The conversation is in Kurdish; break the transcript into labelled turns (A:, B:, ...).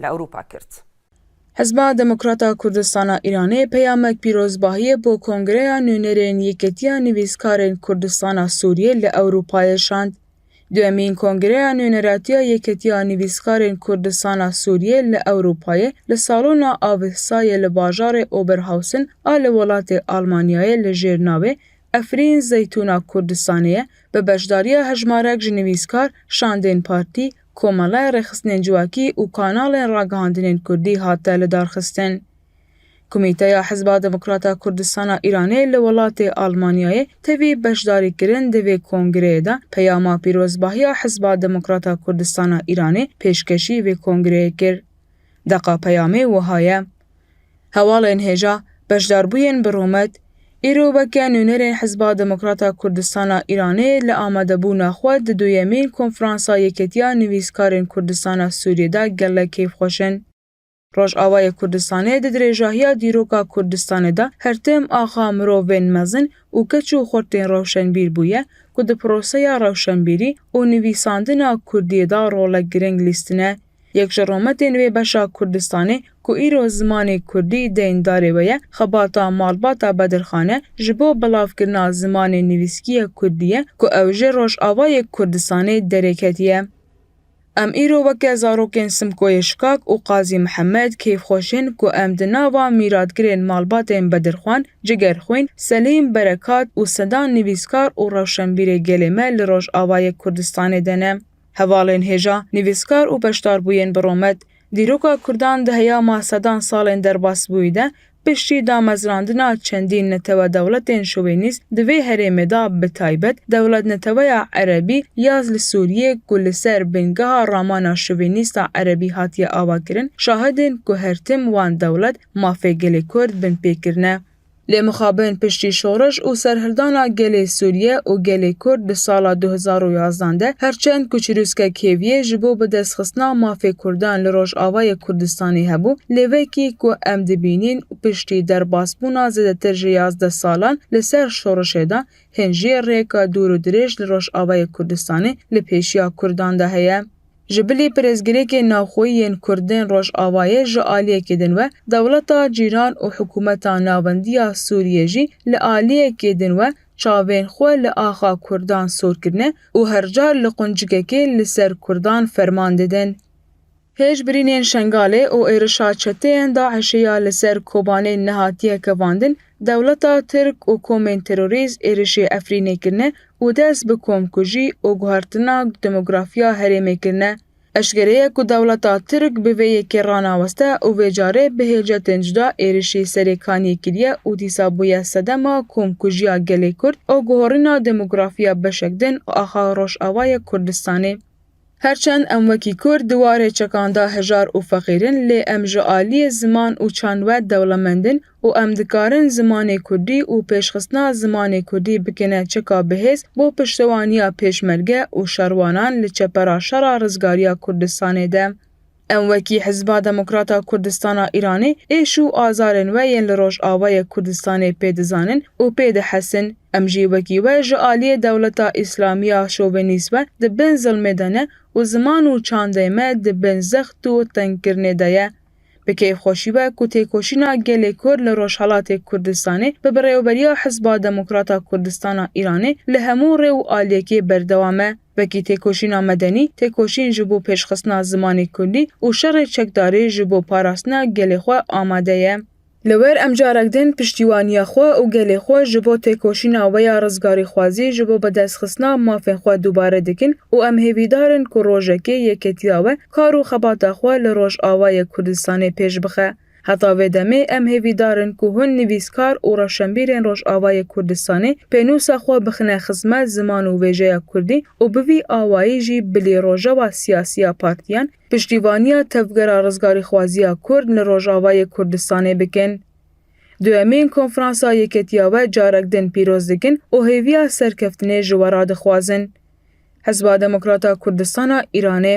A: li Ewropa kir. Hizba Demokrata Kurdistana Îranê peyamek pîrozbahiyê bo Kongreya Nûnerên Yekîtiya Nivîskarên Kurdistana Sûriyê li Ewropayê şand. Duyemîn Kongreya Nûneratiya Yekîtiya Nivîskarên Kurdistana Sûriyê li Ewropayê li Salona Avihsa yê li bajarê Oberhausen a li welatê Almanyayê li jêr navê Efrîn Zeytûna Kurdistanê ye bi beşdariya hejmarek ji nivîskar, şandên partî, Komelaya Rêxistinên Civakî û kanalên ragihandinên Kurdî hate lidarxistin. Komîteya Hizba Demokrata Kurdistana Îranê li welatê Almanyayê tevî beşdarîkirin di vê kongreyê de peyama pîrozbahiya Hizba Demokrata Kurdistana Îranê pêşkeşî vê kongreyê kir. Deqa peyamê wiha ye. Hevalên hêja beşdarbûyên bi rûmet, îro weke nûnerên Hizba Demokrata Kurdistana Îranê li amadebûna xwe di duyemîn Konferansa Yeketiya Nivîskarên Kurdistana Sûriyê de gelek keyfxweş in. Rojavayê Kurdistanê di dirêjahiya dîroka Kurdistanê de her tim axa mirovên mezin û keç û xurtên rewşenbîr bûye ku di proseya rewşenbîrî û nivîsandina kurdiyê de rolek giring lîstine Yek ji rometên wê beşa Kurdistanê ku îro zimanê Kurdî deyndarê we ye, xebata malbata Bedirxan e ji bo belavkirina zimanê nivîskiyê Kurdî ye ku ew ji Rojavayê Kurdistanê derê ketiye. Em îro weke zarokên Simkoyê Şikak û Qazî Mihemed keyfxweş in ku em di nava mîratgirên malbatên Bedirxan, Cigerxwîn, Selîm, Berekat û sedan nivîskar û rewşenbîrê gelê me li Rojavayê Kurdistanê de ne. Hevalên hêja, nivîskar û beşdarbûyên bi Romet, dîroka Kurdan di heyama sedan salên derbasbûyî de piştî damezrandina çendîn netewe-dewletên şovenîst di vê herêmê de bi taybet dewletneteweya Erebî yaz li Sûriyê ku li ser bingeha ramana şovenîst a Erebî hatiye avakirin, şahidên ku her tim wan dewlet mafê gelê Kurd binpê kirine. Lê mixabin piştî şoriş û serhildana gelê Sûriye û gelê Kurd di sala du hezar û yazdan de her çend ku çirûskek hêviyê ji bo bidestxistina mafê Kurdan li Rojavayê Kurdistanê hebû lê vekî ku em dibînîn piştî derbasbûna zêdetir ji yazdeh salan li ser şorişê de hên jiyê rêyeka dûr û dirêj li Rojavayê Kurdistanê li pêşiya Kurdan de heye. Ji bilî pirsgirêkên navxweyî yên Kurdên Rojavayê ji aliyekê din we, dewleta cîran û hikûmeta navendî ya Sûriyê jî li aliyekê din we çavên xwe li axa Kurdan sor kirine û her car li quncikekê li ser Kurdan ferman didin. Pêş birînên Şengalê û êrişa çeteyên DAIŞ'ê ya li ser Kobanê nehatiye kevandin, dewleta Tirk û komên terorîst êrişê Efrînê kirine û dest bi komkujî û guhertina demografiya herêmê kirine, eşkere ye ku dewleta Tirk bi vê yekê ranaweste û vê carê bi hêlcetên cuda êrişî serê kaniyê kiriye û dîsa bûye sedema komkujiya gelê Kurd û guherîna demografiya beşek din û axa Rojavayê Kurdistanê. Her çend em wekî Kurd di warê çekan de hejar û feqîr in lê em ji aliyê ziman û çand we dewlemend in û em dikarin zimanê Kurdî û pêşxistina zimanê Kurdî bikêne çeka bihêz bo piştewaniya Pêşmerge û şerwanan li çepera şera rizgariya Kurdistanê de. Em wekî Hizba Demokrata Kurdistana Îranê êş û azarên we yên li Rojavayê Kurdistanê pê dizanin û pê dihesin. Em jî wekî we ji aliyê dewleta Îslamî ya şovenîst ve di bin zilmê de ne û ziman û çandê me di bin zext û tengkirinê de ye. Bi keyfxweşî be ku têkoşîna gelê Kurd li Rojhelatê Kurdistanê bi birêveberiya Hizba Demokrata Kurdistana Îranê li hemû rê û aliyekê berdewam e. Wekî têkoşîna medenî, têkoşîn ji bo pêşxistina zimanê kurdî û şerê çekdarî ji bo parastina gelê xwe amade ye. Li wir em carek din piştîwaniya xwe û gelê xwe ji bo têkoşîna we ya rizgarîxwazî ji bo bidestxistina mafên xwe dubare dikin û em hêvîdar in ku rojekê yeketiya we kar û xebata xwe li Rojavayê Kurdistanê pêş bixe. Heta vê demê em hêvîdar in ku hin nivîskar û rewşenbîrên Rojavayê Kurdistanê pênûsa xwe bixine xizmet ziman û vêjeya kurdî û bi vî awayî jî bilî rojewa siyasî ya partiyan piştîvaniya tevgera rizgarîxwaziya kurd li Rojavayê Kurdistanê bikin. Duyemîn konferansa Yeketiya we carek din pîroz dikin û hêviya serkeftinê ji we re dixwazin. Hizba Demokrata Kurdistana Îranê.